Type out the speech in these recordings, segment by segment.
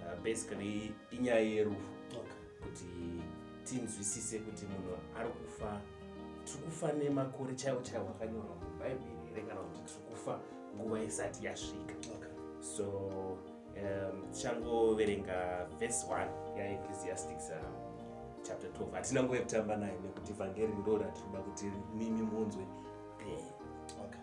uh, basically inyaya yerufu okay. kuti tinzwisise kuti munhu ari kufa tiri kufa nemakore chaiwo chaiwo akanyorwa mubhaibheri here kana kuti tiri kufa nguva isati yasvika okay. so um, tichangoverenga um, vhesi 1 yaecclesiastics uh, chapter 12 hatina nguva yekutamba nayo nekuti vhangeri ndo ratinoda kuti mimi munzwe pee okay.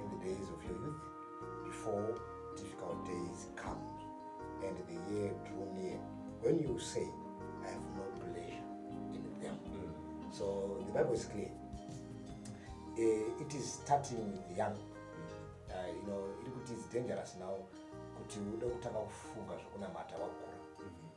in the days of your youth before difficult days come and the year drew near when you say i have no pleasure in them mm. so the bible is clear uh, it is starting with the young uh, you know iri kuti is dangerous now kuti ude kutanga kufunga zvekunamata wakura mm -hmm.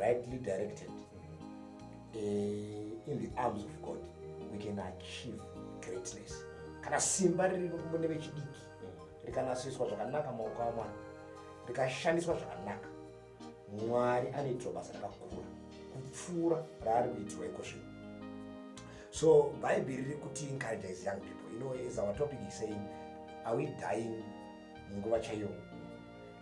rightly directed uh, in the arms of god we can achieve greatness kana simba riri mune vechidiki rikanasiswa zvakanaka maoko amwana rikashandiswa zvakanaka mwari anoitirwa basa rakakura kupfuura raari kuitirwa iko zvino so bhaibheri riri kuti encourage is young people you know is our topic is saying are we dying munguva chaiyo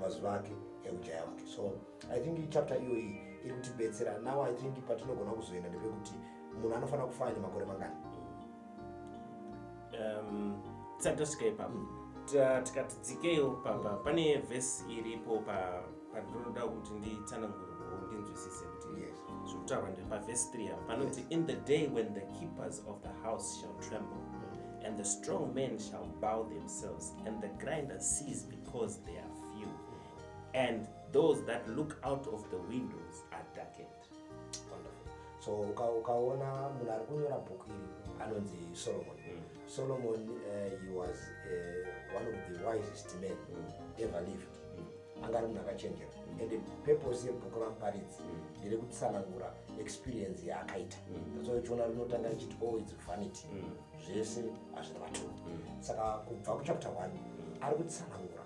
mazuva ake eujaya mucho so i think ichapter iyoyi iri kutibetsera now i think patinogona kuzoenda ndepekuti munhu anofanira kufana nemakore mangani um, tisati tasvika ipapo tikati dzikeyo pamba pane vhesi iripo pandinoda kuti nditsanangure ndinzwisise kuti zvekutaurwa ndepavhesi 3 ava panoti in the day when the keepers of the house shall tremble mm. and the strong men shall bow themselves and the grinder sees because they are few and those that look out of the windows are darkened so ukaona munhu ari kunyora bhuku iri anonzi solomon mm. solomon uh, he was uh, one of the wisest men mm. ever lived mm. anga ari munhu akachenjera mm. and purpose yebhuku ramuparidzi mm. ndere mm. kutsanangura experience yaakaita mm. so chiona rinotanga richiti oh its vanity mm. zvese hazvina maturo mm. saka kubva kuchapter one mm. ari kutsanangura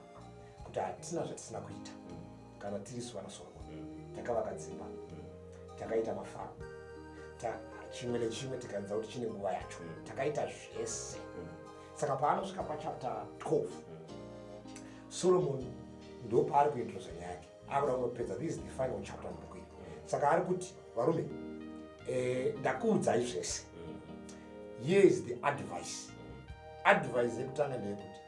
kuti hatina zvatisina kuita mm. kana tiri su vanasorwa takavaka dzimba takaita mafamu chimwe nechimwe tikaenza kuti chine nguva yacho takaita zvese saka paanosvika pachapter 12 solomoni ndopaari kuintrosa nyaya yake akuda kuzopedza this is the final chapter mubhuku iri saka ari kuti varume eh, ndakuudzai zvese here is the advice advice yekutanga ndeyekuti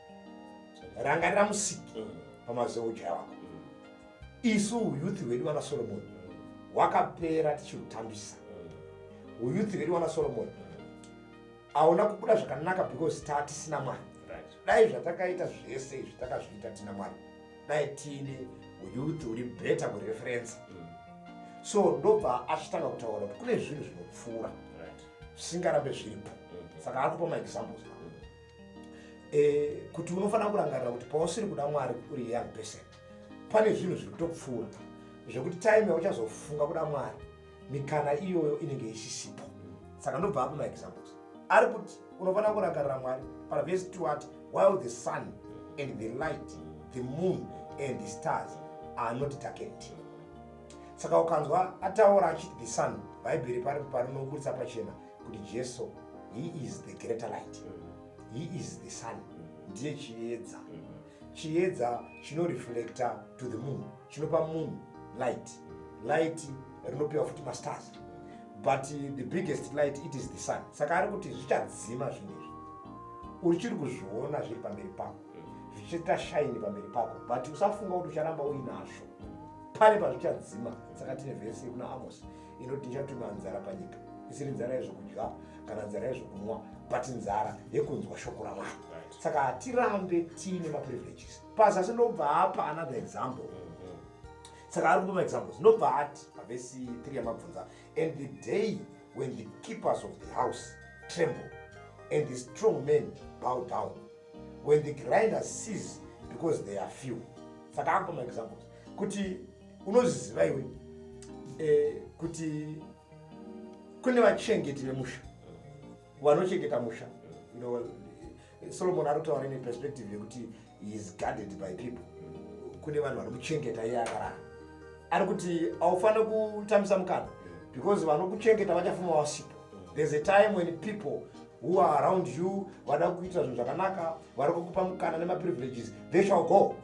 rangarira musiki pamazeuja wako isu uyuthi hwedu vana solomoni hwakapera tichiutambisa uyuthi hwedu vana solomoni aona kubuda zvakanaka because tatisina mwari dai zvatakaita zvese izvi takazviita tina mwari dai tiine uyuth uri better kureferensa mm. so ndobva achitanga kutaura kuti kune zvinhu zvinopfuura zvisingarambe zviripo mm. saka ari kupa maexamples mm. eh, kuti unofanira kurangarira kuti pausiri kuda mwari uri young person pane zvinhu zviri kutopfuura zvekuti time yauchazofunga kuda mwari mikana iyoyo inenge isisipo saka ndobva apo maexamples ari kuti unofanira kurangarira mwari pavhesi two ati while the sun and the light the moon and the stars are not darkened saka ukanzwa ataura achiti the sun bhaibheri pari parinoburitsa pachena kuti jesu he is the greater light he is the sun ndiye chiedza mm -hmm. Chiedza chino reflector to the moon chinopa moon light light rinopiwa futi mastars but the biggest light it is the sun saka ari kuti zvichadzima zvinhu izvi uchiri kuzviona zviri pamberi pako zvichiita shaini pamberi pako but usafunga kuti ucharamba uinazvo pari pazvichadzima saka tine vhesi kuna amos inoti nichatuma nzara panyika isiri nzara yezvokudya kana nzara yezvokunwa but nzara yekunzwa shoko ramwari saka hatirambe tiine maprivileges pazasi ndobva apa another example mm-hmm. saka ari kupa maexamples ndobva ati pavesi 3 yamabvunza and the day when the keepers of the house tremble and the strong men bow down when the grinder sees because they are few saka akupa maexamples kuti unozviziva iwe eh, kuti kune vachengeti vemusha vanochengeta musha ndo solomon anotaura neperspective yekuti is guarded by people kune vanhu vanokuchengeta iye akarara ari kuti haufanire kutambisa mukana because vanokuchengeta vachafuma vasipo there's a time when people who are around you vada kuita zvinhu zvakanaka vari kukupa mukana nemaprivileges they shall go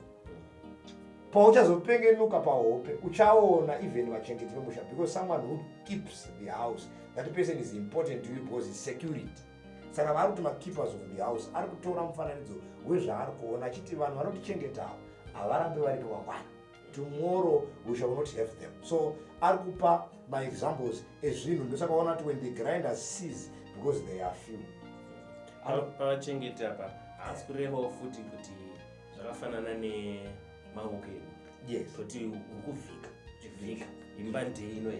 pauchazopengenuka pahope uchaona even vachengeti vemusha because someone who keeps the house that person is important to you because is security saka vari kuti makeepers of the house ari kutora mufananidzo wezvaari kuona achiti vanhu vanotichengetawo havarambe vari kavakwana tomorrow we shall not have them so ari kupa maexamples ezvinhu ndosaka vaona kuti when the grinder sees because they are few pavachengeti apa haasi kurevawo futi kuti zvakafanana nemawoko edu yes toti uri kuvhika chivhika imba ndei ino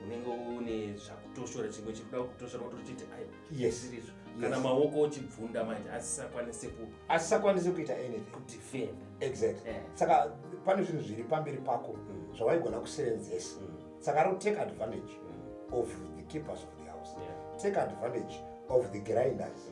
unenge une zvakutoshora chimwe chiri kuda kutoshora wotochiti ayo yesirizvo kana maoko ochibvunda manje asisakwanise ku asisakwanise kuita anything kudefenda exactly eh. saka pane zvinhu zviri pamberi pako mm. zvawaigona kusevenzesa mm. saka ari kutake advantage mm. of the keepers of the house take advantage of the grinders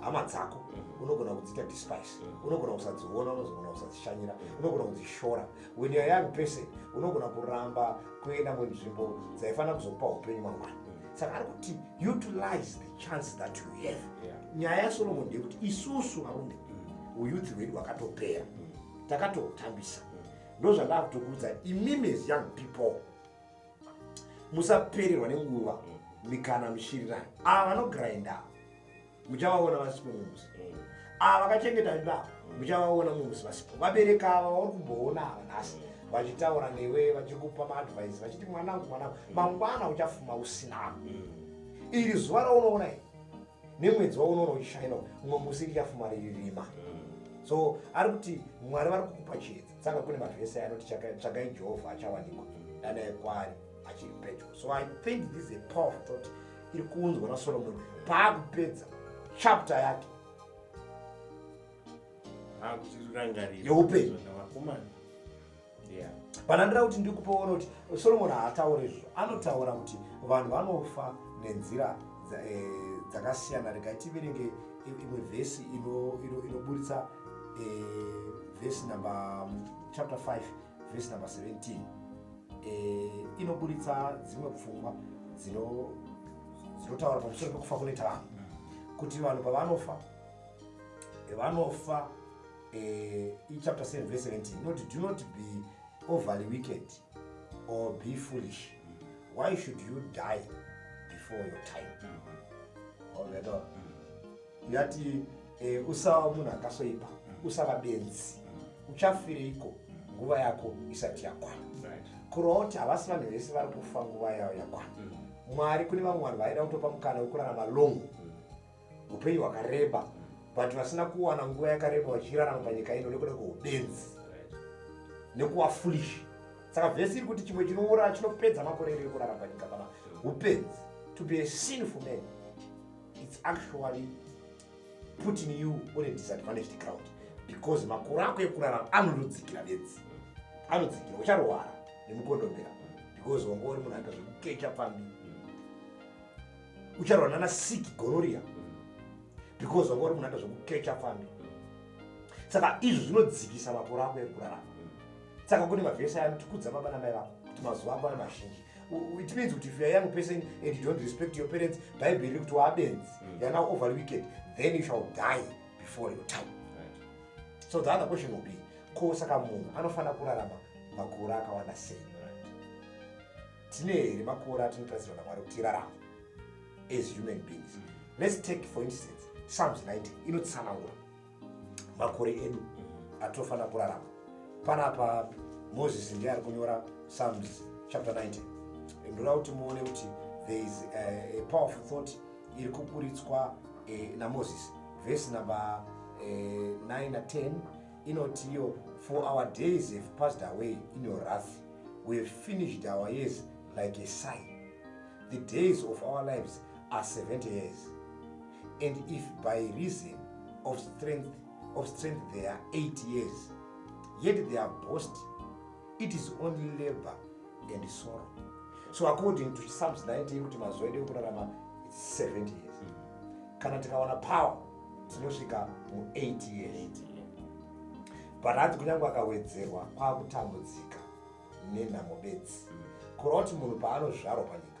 hama dzako mm. unogona kudziita despise mm. unogona kusadziona unogona kusadzishanyira mm. unogona kudzishora when youare young person unogona kuramba kuenda munzvimbo dzaifanira kuzokupa upenyu mangwana saka ari kuti utilize the chance that you have nyaya yasolomon ndeyekuti isusu varume uyuthi hwedu hwakatopera takatotambisa ndozvandakutokuudza imimi as young people musapererwa nenguva mm. mikana mushirirani ava ah, vanogrinda muchavaona vasipo mumusi mm. ava ah, vakachengeta mimba mm. muchavaona mumusi vasipo vabereka ava vari kumboona ava nhasi vachitaura newe vachikupa maadvise vachiti mwanangu mwanangu mangwana uchafuma usina iri zuva raunoona i nemwedzi waunoona uchishaina umwe musi richafuma riri rima so ari kuti mwari vari kukupa chiedza saka kune vanhu vese anoti tsvagai jehovha achawanikwa danaye kwaari achiri pedyo so i think this is a powerful thought iri kuunzwa nasolomoni paakupedza chapter yake yeupenyu panandira kuti ndiri kupaona kuti solomoni haataure izvo anotaura kuti vanhu vanofa nenzira eh, dzakasiyana rega tiverenge imwe vhesi inoburitsa eh, vhesi number um, chapter 5 vhesi number 17 eh, inoburitsa dzimwe pfungwa dzinotaura pamusoro pekufa kunoita vanhu kuti vanhu pavanofa eh, vanofa eh, ichapter 7 vhesi 17 inoti do not be overly wicked or be foolish why should you die before your time mm -hmm. yati eh, usava munhu akasoipa mm. usava benzi mm. uchafireiko mm. nguva yako isati yakwana kuroti havasi vanhu vese vari kufa nguva yayo yakwana mwari kune vamwe vanhu vaida kutopa mukana wekurarama long upenyu hwakareba but vasina kuwana nguva yakareba vachirarama panyika ino nekuda kweubenzi nekuva foolish saka vhesi iri kuti chimwe chinoura chinopedza makore iri ekurarama panyika pana upenzi to be a sinful man it's actually putting you on a disadvantaged ground because makore ako ekurarama anonodzikira bedzi anodzikira ucharwara nemukondombera because wanga uri munhu aita zvekukecha pfambi ucharwara nana siki gonoria because wanga uri munhu aita zvekukecha pfambi saka izvi zvinodzikisa makore ako ekurarama saka kune mavhesi aya anotikudza baba namai vako kuti mazuva ako ane mazhinji which means kuti if youare young person and you don't respect your parents bhaibheri riri kuti waabenzi mm. youare now over wicked then you shall die before your time right. so the other question will be ko saka munhu anofanira kurarama makore akawanda sei tine here makore atinotarisirwa namwari kuti irarama as human beings mm. let's take for instance psalms 90 inotsanangura makore edu atofanira kurarama panapa moses ndiye ari kunyora psalms chapter 90 ndoda kuti muone kuti there is a, eh, a powerful thought iri kupuritswa eh, namoses vhesi number eh, 9 na 10 inoti iyo for our days have passed away in your wrath we have finished our years like a sign the days of our lives are 70 years and if by reason of strength, of strength they are eight years, yet they are boast, it is only labor and sorrow. So according to Psalms 19, kuti mazuva edu ekurarama 70 years. Kana tikawana power tinosvika mu 8 years. But hanzi kunyange akawedzerwa kwakutambudzika nenhamo bedzi. Kuroti munhu paanozvarwa panyika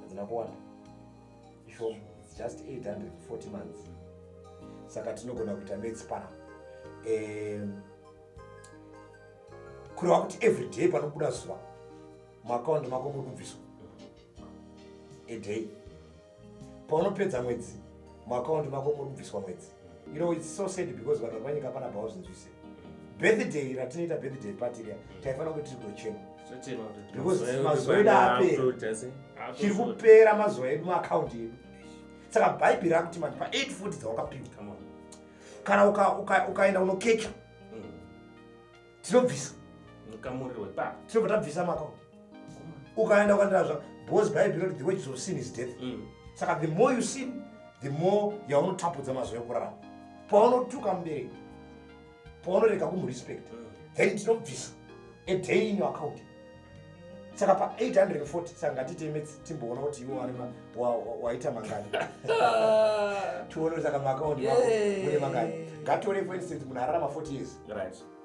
hadzina kuwanda ishoma just 840 months saka tinogona kuita mats pana um, kureva kuti every day panobuda zuva muakaundi mako muri kubviswa a day paunopedza mwedzi muakaundi mako muri kubviswa mwedzi you know it's so sad because vanhu vari panyika pana bhawo zvinzwise birthday ratinoita birthday party riya mm. taifanira kuti tiri kuchema because mazuva edu apera chiri kupera mazuva edu maakaunti edu saka bhaibheri rakuti manje pa 8 futi dzawakapiwa kana ukaenda unokecha mm. tinobvisa tinobva tabvisa maakaunti ukaenda ukandiraa zva because bible inoti the wages of sin is death mm. saka the more you sin the more yaunotapudza mazuva ekurarama paunotuka mubereki paunorega kumurespect mm. then tinobvisa a day in your account saka pa 840 saka ngatiteme timboona kuti iwo wane waita mangani tione saka maakaunti mune mangani ngatore for instance munhu ararama 40 years right.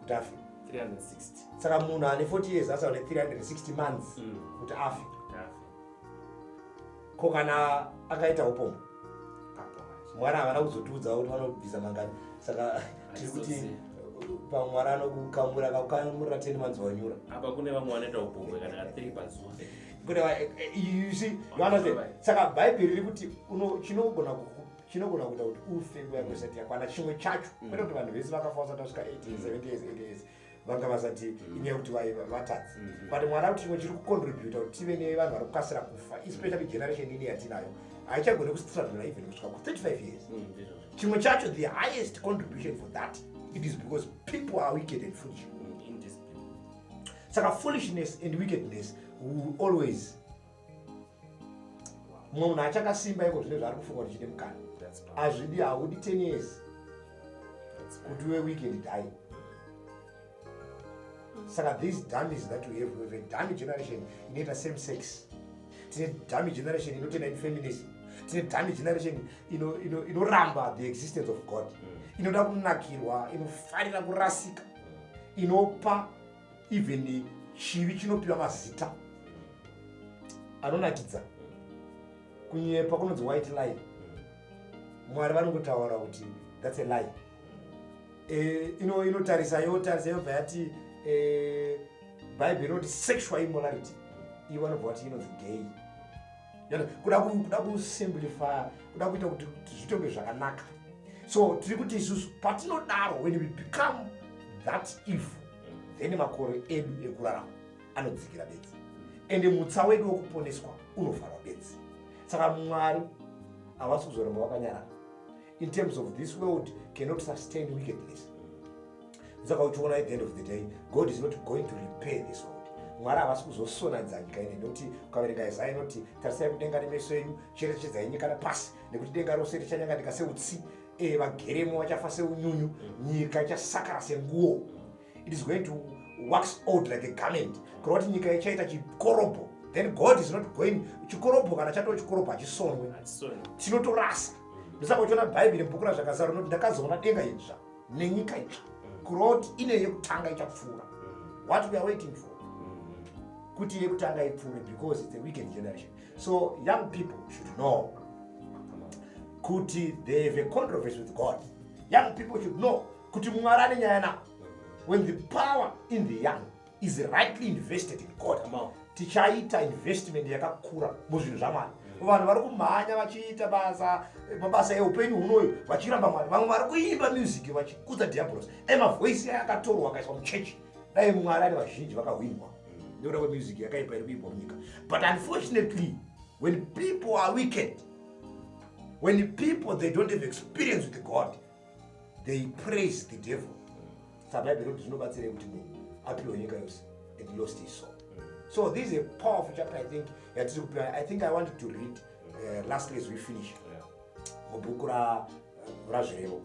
kuti afe 360 saka munhu ane 40 years asa ane 360 months mm. kuti afe ko kana akaita upomo mwana havana kuzotiudzawo kuti vanobvisa mangani saka tiri kuti pamwe mwana anokukamura kakukamura teni manzi wanyura apa kune vamwe vanoita upomo kana katiri pazuva kune eh, eh, you see you understand saka bhaibheri riri kuti chinogona chinogona kuita kuti ufe nguva yako isati yakwana chimwe chacho mm. kwete kuti vanhu vese vakafa vasati vasvika 8 70 years 8 years vanga vasati mm. inyaya yekuti vaiva vatadzi mm-hmm. but mwana kuti chimwe chiri kucontributa kuti tive nevanhu vari kukasira kufa especially generation ini yatinayo haichagone kustraddla even kusvika ku35 years mm, chimwe chacho the highest contribution for that it is because people are wicked and foolish saka foolishness and wickedness will always mumwe munhu achakasimba iko zvine zvaari kufunga kuti chine mukana azvidi haudi ten years kuti uve week and die saka these damis that we have weve dami generation inoita same sex tine dami generation inotenda in feminism tine dami generation inoramba the existence of god mm. inoda kunakirwa inofarira kurasika mm. inopa even chivi chinopiwa mazita anonakidza kunyepa kunonzi white lie mwari vanongotaura kuti thats a lie e, ino inotarisa yotarisa yobva yati e, bible inoti sexual immorality ivo vanobva vati inonzi gay kuda kuda kusimplifya kuda kuita kuti zvitonge zvakanaka so tiri kuti isusu patinodaro when we become that evil then makore edu ekurarama anodzikira bedzi ende mutsa wedu wekuponeswa unovharwa bedzi saka mwari havasi kuzoramba vakanyarara in terms of this world cannot sustain wickedness saka uchiona at the end of the day god is not going to repair this world mwari havasi kuzosonadza nyika ine nekuti ukaverenga isaya inoti tarisai kudenga nemeso enyu cherechedzai nyika napasi nekuti denga rose richanyanganika seutsi eh, vageremo vachafa seunyunyu mm. nyika ichasakara senguo it is going to wax old like a garment kureva kuti nyika ichaita chikorobho then god is not going chikorobho kana chatoo chikorobho hachisonwe tinotorasa ndosaka uchiona bhaibheri bhuku razvakazara unoti ndakazoona denga idzva nenyika idzva kureva kuti ine yekutanga ichapfuura what we are waiting for kuti yekutanga ipfuure because its a weekend generation so young people should know kuti they have a controversy with god young people should know kuti mwari ane nyaya navo when the power in the young is rightly invested in god tichaita investment yakakura muzvinhu zvamwari vanhu vari kumhanya vachiita basa mabasa eupenyu hunoyu vachiramba mwari vamwe vari kuimba music vachikudza diabolos dai mavoisi aya akatorwa akaiswa muchechi dai mwari ari vazhinji vakahwinwa nekuda kwemusic yakaipa iri kuimbwa munyika but unfortunately when people are wicked when people they don't have experience with god they praise the devil saka bhaibheri rinoti zvinobatsirei kuti munhu apiwe nyika yose and lost his soul so this is a powerful chapter i think yatiri kupiwa i think i wanted to read uh, last as we finish mubhuku ra razvirevo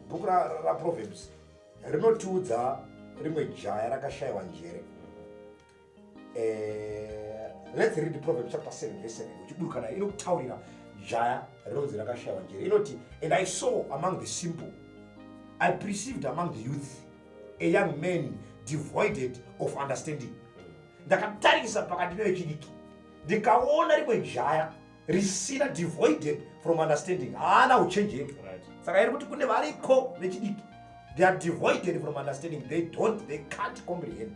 bhuku raproverbs rinotiudza rimwe jaya rakashayiwa njere Eh, let's read proverb chapter 7 verse 7 uchiburukana inokutaurira jaya rinonzi rakashaiwa njere inoti and i saw among the simple i perceived among the youth a young man devoided of understanding ndakatarisa pakati nevechidiki ndikaona rimwe jaya risina devoided from understanding haana uchenjeri saka iri kuti kune variko vechidiki they are devoided from understanding they don't they can't comprehend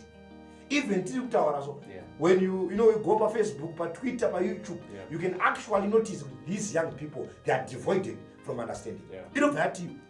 even tiri kutaura so when you, you know, you go pafacebook patwitter payoutube yeah. you can actually notice these young people they are devoided from understanding inobva yeah. yatiyo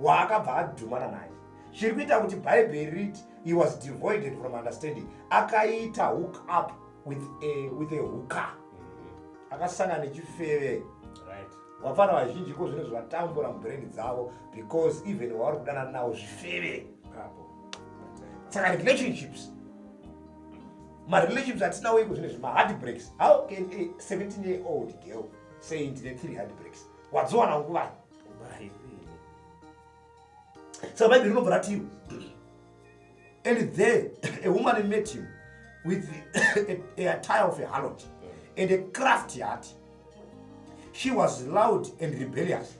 waakabva adhumana naye chiri kuita kuti bhaibheri riti he was devoided from understanding akaita hook up with a, with a hooker mm-hmm. akasanga nechifeve vapfana vazhinji ko zvinhu zvatambura mubrand dzavo because even wavari kudanana nawo zvifeve saka relationships marelationships atinawo iko zvine zvimahard breaks how can a 17 year old girl say ndine three hard breaks wadziwana nguvai saka bhaibheri rinobva rati and there a woman met him with a, a attire of a harlot and a crafty heart she was loud and rebellious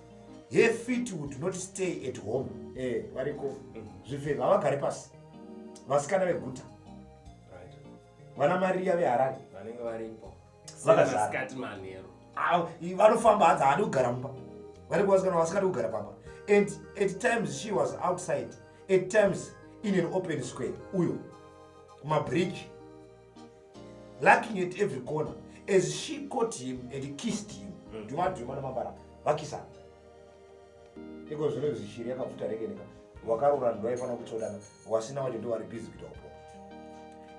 her feet would not stay at home eh, variko zvifeva havagare pasi vasikana veguta vana mariya veharare vanenge varipo vakazati manheru vanofamba hanzi haadi kugara mumba vari kuvasikana vasikadi kugara pamba and at times she was outside at times in an open square uyo kumabridge lacking at every corner as she caught him and kissed him mm. ndimadhuma namabara vakisana iko zvino izvi shiri yakabvuta rekeneka wakarora ndo aifanira kutsvodana wasina wacho ndowari busy kuita upo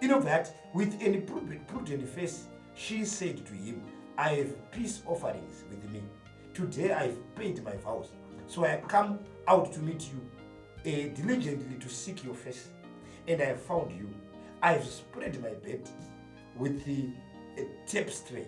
inobva yati with an prudent face she said to him i have peace offerings with me today i have paid my vows so i come out to meet you uh, diligently to seek your face and i have found you i have spread my bed with the uh, tapestry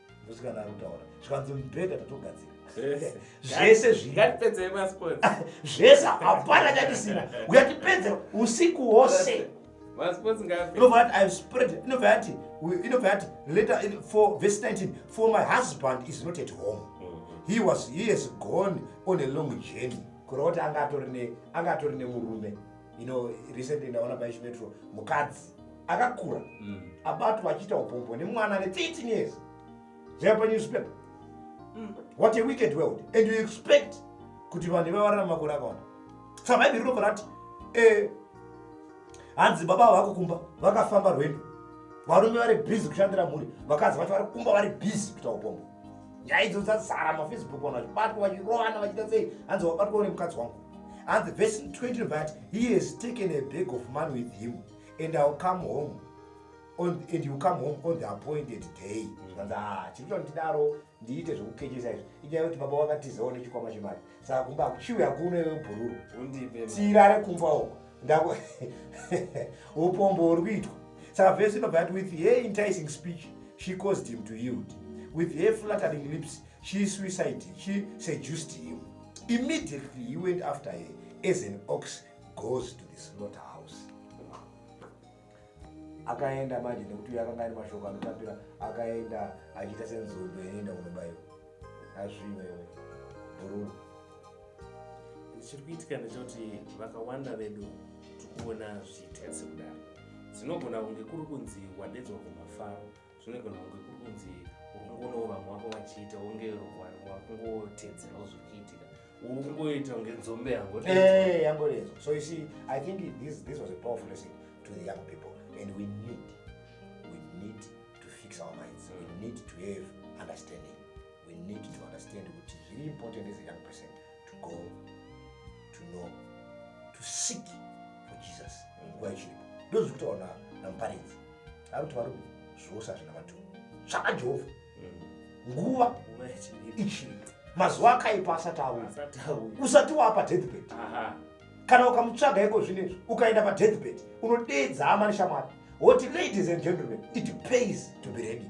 ndosikana kutaura zvikanzi mubhedha tatogadzira zvese zvingatipedzei masports zvese hapana chatisina uyatipedze usiku hwose inobva yati inobva yati later in, for verse 19 for my husband is not at home mm-hmm. he was he has gone on a long journey kureva kuti anga atori nemurume you know recently ndaona paishimetro mukadzi akakura mm. abatwa achiita upombwa nemwana ane 13 years zvaipa newspaper mm. what a wicked world and you expect kuti vanhu vavarana makore akawanda sa bhaibheri rinobva rati eh, hanzi baba avo vakukumba vakafamba rwendo varume vari busy kushandira mhuri vakadzi vacho vari kumba vari busy kuita upombwa nyaya idzo dzazara mafacebook vanhu vachibatwa vachirovana vachiita sei hanzi wabatwa nemukadzi wangu hanzi vesi 20 vati he has taken a bag of money with him and ill come home on, and you come home on the appointed day zvikanzi mm. ah, chiri kuita ndidaro ndiite zvekukechesa izvi inyaya yekuti baba vakatizawo nechikwama chemari saka kumba akuchiwi hakuno iwe bhururu tirare kumba uko ndako upombo huri kuitwa saka vese inobva yati with her enticing speech she caused him to yield with her flattering lips she suicide she seduced him immediately he went after her as an ox goes to the slaughter house akaenda manje nekuti uyo akanga ane mashoko anotapira akaenda achiita senzombe inoenda kunobaiwa azviwewe bhururu chiri kuitika ndechekuti vakawanda vedu tikuona zviita sekudaro dzinogona kunge kuri kunzi wadedzwa kumafaro zvinogona kunge kuri kunzi ukungono vamwe vako vachiita unge wakungotedzerawo zviri kuitika ukungoita kunge nzombe yangorezo eh, so you see i think this, this was a powerful lesson to the young people and we need we need to fix our minds we need to have understanding we need to understand kuti zviri important as a young person to go to know to seek for jesus nguva ichiripo ndozi kutaura namuparidzi ari kuti varumi zvose hazvina maturo tsvaka jehovha mm. nguva ichiripo mazuva akaipa asati auya usati waapa deathbed kana ukamutsvaga iko zvino izvi ukaenda padeathbed unodeedza hama neshamwari woti ladies and gentlemen it pays to be ready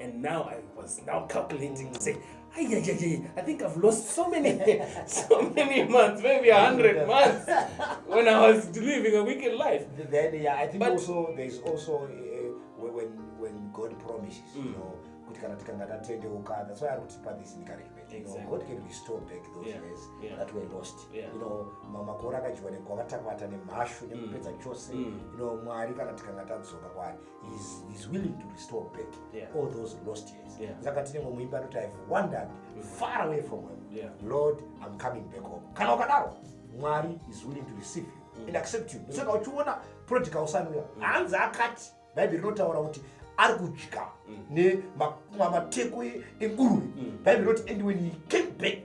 and now i was now calculating mm. say Ay, ay, ay, ay, I think I've lost so many, so many months, maybe a hundred months when I was living a wicked life. Then, yeah, I think but, also there's also uh, when when God promises, mm. you know, kuti kana tikanga tatendeuka that's why ari kutipa this encouragement you know god can restore back those yeah. years yeah. that were lost yeah. you know makore akadyiwa nekwavatapata nemhashu nekupedza mm. chose mm. you know mwari kana tikanga tadzoka kwari is, is willing to restore back yeah. all those lost years yeah. saka tinenge muimba anoti ihave wandered far away from him yeah. lord i'm coming back home kana ukadaro mwari is willing to receive you mm. and accept you saka mm. uchiona prodigal usanuya mm. hanzi akati bhaibheri rinotaura kuti ari kudya mm. nemateko enguruve mm. bhaibheri roti and when he came back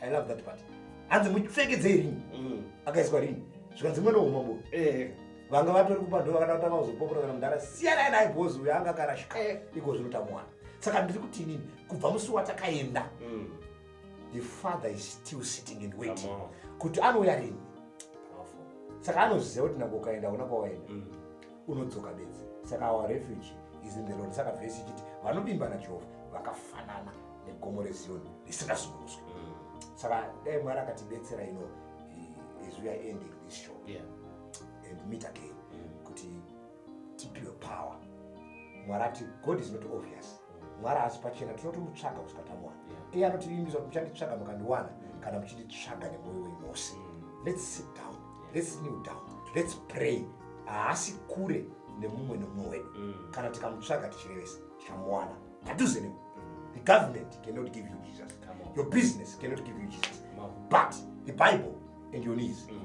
i love that part hanzi mupfekedzei ring mm. akaiswa ring zvikanzi mwana wehumambo eh. vanga vatori kupando vakada kutanga kuzopopora kana mudhara siyanai naye bhozi uyo anga akarashika eh. iko zvinotamuwana saka ndiri kuti inini kubva musi watakaenda mm. the father is still sitting and waiting kuti anouya rini saka anoziva kuti nako ukaenda una kwawaenda mm. unodzoka bedzi saka our refuge is in the road saka vhesi ichiti vanovimbana jehovha vakafanana negomo reziyoni risingazungunuswi mm. saka dai mwari akatibetsera ino eh, as we are ending this show yeah. and meet again mm. kuti tipiwe power mwari ati god is not obvious mm. mwari haasi pachena tinotomutsvaga kusvika tamuwana yeah. iye anotivimbisa kuti muchanditsvaga mukandiwana mm. kana muchinditsvaga nemwoyo wemose mm. let's sit down yeah. let's kneel down let's pray haasi kure nemumwe nemumwe wedu mm. kana tikamutsvaga tichirevesa tichamuwana padhuze newe the government cannot give you jesus your business cannot give you jesus but the bible and your knees mm.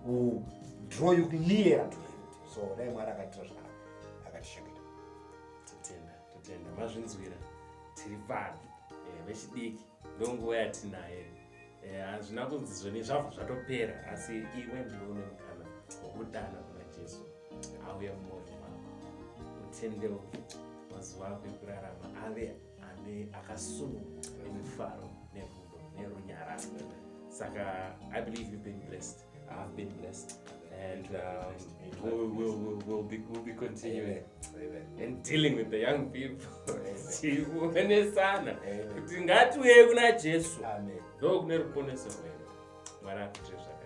will draw you nearer to him so dai mwari akaitira zvakanaka akatishengeta totenda totenda mazvinzwira tiri pano eh, vechidiki ndonguva yatinaye eh, hazvina yeah, kunzi zvoni zvabva zvatopera asi iwe ndiwe une mukana wokudana kuna jesu auye mumoyo mako utendeuke mazuva ako ekurarama ave ane akasununguka nemifaro nerudo nerunyararo saka i believe you've been blessed I've been blessed. And um, we'll, we'll, we'll, we'll, be, we'll be continuing Amen. and dealing with the young people. tione sana kuti ngatiuye kuna jesu ndo kune ruponeso rwedu mwari akuite zvakanaka